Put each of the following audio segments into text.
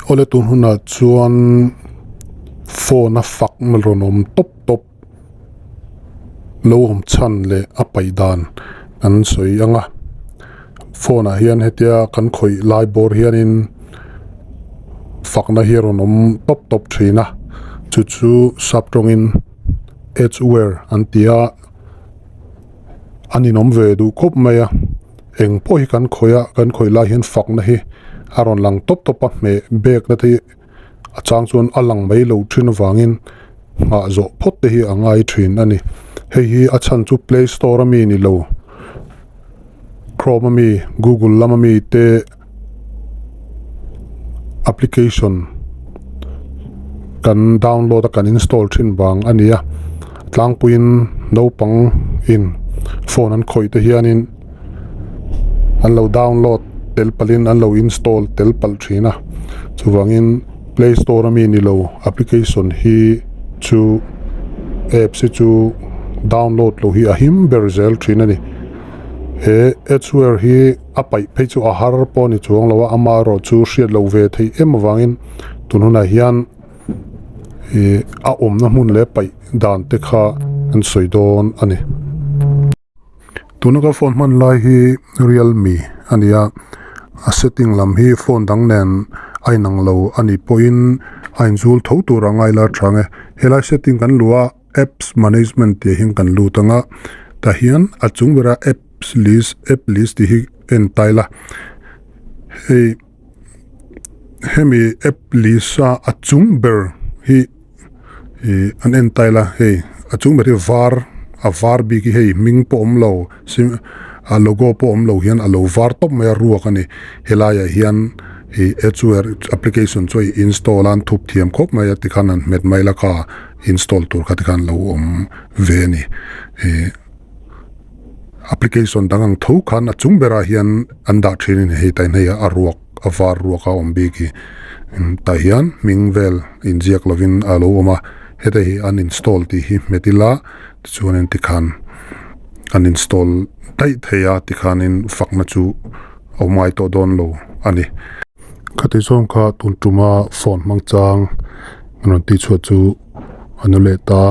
Awle tun hunah chuan phone a fakna rawn awm tawp tawp lo awm chhan leh a paih dan kan sawi ang a phone ah hian hetia kan khawih lai bawr hianin fakna hi rawn awm tawp tawp thin a chu chu sap tawngin edge wear an ti a. a ninawm ve duh khawp mai a, eng pawh hi kan khawih a, kan khawih lai hian fakna hi a rawn lang tawp tawp a, hmeh bêkna te a châng chuan a lang mai lo ṭhin avangin nghah zawh phawt te hi a ngai ṭhin a ni. Hei hi a chhan chu Play Store ami ni lo, Chrome ami, Google lam ami te, application kan download a kan install thin vang a ni a tlangpuiin naupang in phone an khawih te hianin an lo download tel palhin an lo install tel pal thin a chuvangin play store ami ni lo application hi chu apps hi chu download loh hi a him ber zel thin a ni he hi-- A paih phei chu a har pawh a ni chuang lo a, ama erawh chu hriat loh ve thei em avangin tun hunah hian ih a awmna hmun leh paih dan te kha an sawi dawn a ni. Tuna ka phone hman lai hi Realme a ni a, a setting lam hi phone dang nen a inang lo a nih pawhin a inzul tho tur a ngaila tha ang e. Helai setting kan luh a. Apps Management tih ahin kan lut ang a, tah hian a chung ber a Apps List, App List tih hi a en tile a. Hei hemi App List a a chung ber hi ih an en tile a, hei a chung ber hi var a var bik hi hei hming pawh awm lo. Sing a logo pawh awm lo hian a lo var tawp mai a ruak a ni. Helaiah hian i Edgeware application chu i install a an thup thiam khawp mai a tikhan an hmet mai laka install tur kha tikhan lo awm ve a ni. I application dang ang tho khan a chung berah hian an dah thinin hei tainhei ah a ruak. a var ruak a awm bik i tah hian hming vel inziak lovin a lo awm a, heta hi uninstall tih hi hmet ila tichuanin tikhan uninstall daih theih a tikhanin fakna chu a awm ngai tawh dawn lo a ni. Khati zawng kha tun tuma phone hmangchang a rawn ti chhuah chu a nu leh ta,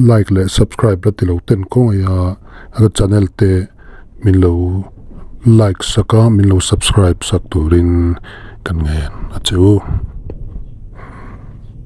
like leh subscribe la ti lo ten kawngaia ka channel te. Min lo like sak a, min lo subscribe sak turin kan ngaih a che u.